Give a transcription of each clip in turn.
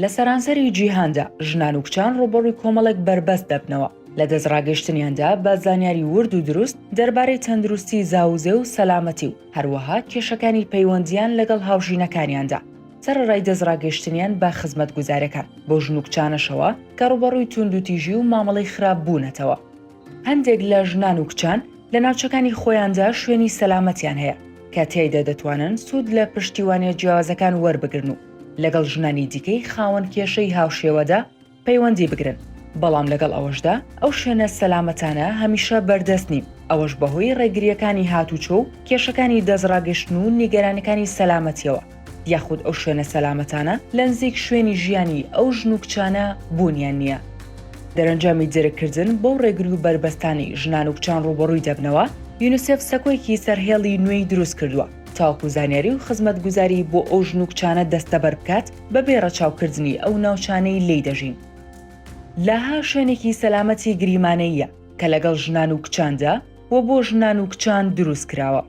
لە سەرانسەری جیهاندا ژنان و کچان ڕووبەڕووی کۆمەڵێک بەربەست دەبنەوە لە دەست ڕاگەشتنیاندا بە زانیاری ورد و دروست دەربارەی تەندروستی زاوزێ و سەلامەتی و هەروەها کێشەکانی پەیوەندیان لەگەڵ هاوژینەکانیاندا سەرەڕای دەست ڕاگەشتنیان بە خزمەت گوزارەکان بۆ ژن و کچانەشەوە کە ڕوبەڕووی توندوتیژی و مامەڵەی خراپ بوونەتەوە هەندێک لە ژنان و کچان لە ناوچەکانی خۆیاندا شوێنی سەلامەتیان هەیە کە تیایدا دەتوانن سوود لە پشتیوانە جیاوازەکان وەربگرن و لەگەڵ ژنانی دیکەی خاوەن کێشەی هاوشێوەدا پەیوەندی بگرن، بەڵام لەگەڵ ئەوەشدا ئەو شوێنە سەلامەتانە هەمیشە بەردەست نین، ئەوەش بەهۆی ڕێگرییەکانی هاتوچۆ و کێشەکانی دەستڕاگەشتن و نیگەرانیەکانی سەلامەتیەوە، یاخود ئەو شوێنە سەلامەتانە لەنزیک شوێنی ژیانی ئەو ژن و کچانە بوونیان نییە. دەرەنجامی درککردن بەو ڕێگری و بەربەستانەی ژنان و کچان ڕووبەڕووی دەبنەوە، یونسێف سەکۆیەکی سەرهێڵی نوێی دروستکردووە، تاوەکو زانیاری و خزمەتگوزاری بۆ ئەو ژن و کچانە دەستەبەر بکات بەبێ ڕەچاوکردنی ئەو ناوچانەی لێی دەژین. لاها شوێنێکی سەلامەتی گریمانەییە کە لەگەڵ ژنان و کچاندا و بۆ ژنان و کچان دروست کراوە.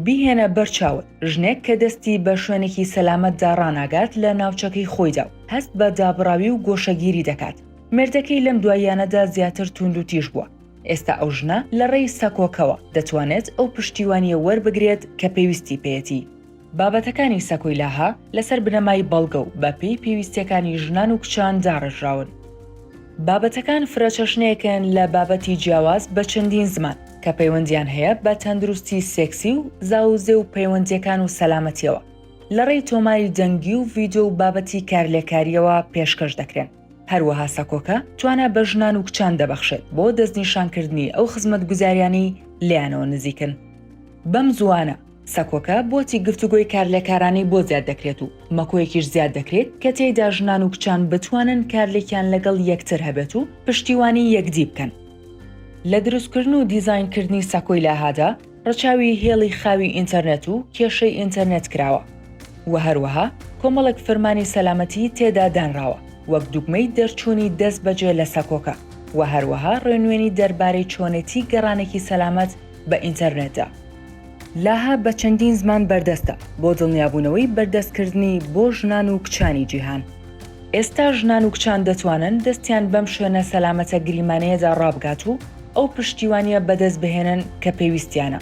بیهێنە بەر چاوت ژنێک کە دەستی بە شوێنێکی سەلامەتدا ڕاناگات لە ناوچەکەی خۆیدا و هەست بە دابڕاوی و گۆشەگیری دەکات. مێردەکەی لەم دواییانەدا زیاتر تووندوتیژ بووە. ئێستا ئەو ژنە لە ڕێی سەکۆکەوە دەتوانێت ئەو پشتیوانییە وەربگرێت کە پێویستی پێیەتی. بابەتەکانی سەکۆیلاها لەسەر بنەمای بەڵگە و بە پێی پێویستییەکانی ژنان و کچان داڕێژراون. بابەتەکان فرەچەشنەیەکن لە بابەتی جیاواز بە چەندین زمان، کە پەیوەندییان هەیە بە تەندروستی سێکسی و زاووزێ و پەیوەندییەکان و سەلامەتییەوە، لە ڕێی تۆماری دەنگی و ڤیدیۆ و بابەتی کارلێککارییەوە پێشکەش دەکرێن. هەروەها سەکۆکە توانا بە ژنان و کچان دەبەخشێت بۆ دەستنیشانکردنی ئەو خزمەتگوزاریانەی لێیانەوە نزیکن. بەم زووانە سەکۆکە بۆتی گفتوگۆی کارلێکارانەی بۆ زیاد دەکرێت و مەکۆیەکیش زیاد دەکرێت کە تێیدا ژنان و کچان بتوانن کارلێکیان لەگەڵ یەکتر هەبێت و پشتیوانی یەکدی بکەن. لە دروستکردن و دیزاینکردنی سەکۆی لاهادا، ڕەچاوی هێڵی خاوی ئینتەرنێت و کێشەی ئینتەرنێت کراوە و هەروەها کۆمەڵێک فرمانی سەلامەتیی تێدا دانراوە وەک دوگمەی دەرچوونی دەست بەجێ لە سەکۆکە و هەروەها ڕێنوێنی دەربارەی چۆنێتیی گەڕانێکی سەلامەت بە ئینتەرنێتدا. لاهە بە چەندین زمان بەردەستە بۆ دڵنیابوونەوەی بەردەستکردنی بۆ ژنان و کچانی جیهان. ئێستا ژنان و کچان دەتوانن دەستیان بەم شوێنە سەلامەتە گریمانەیەدا ڕابگات و، ئەو پشتیوانیە بەدەست بهێنن کە پێویستیانە.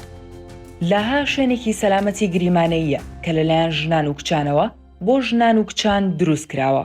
لاها شوێنێکی سەلامەتی گریمانەییە کە لەلایەن ژنان و کچانەوە بۆ ژنان و کچان دروست کراوە.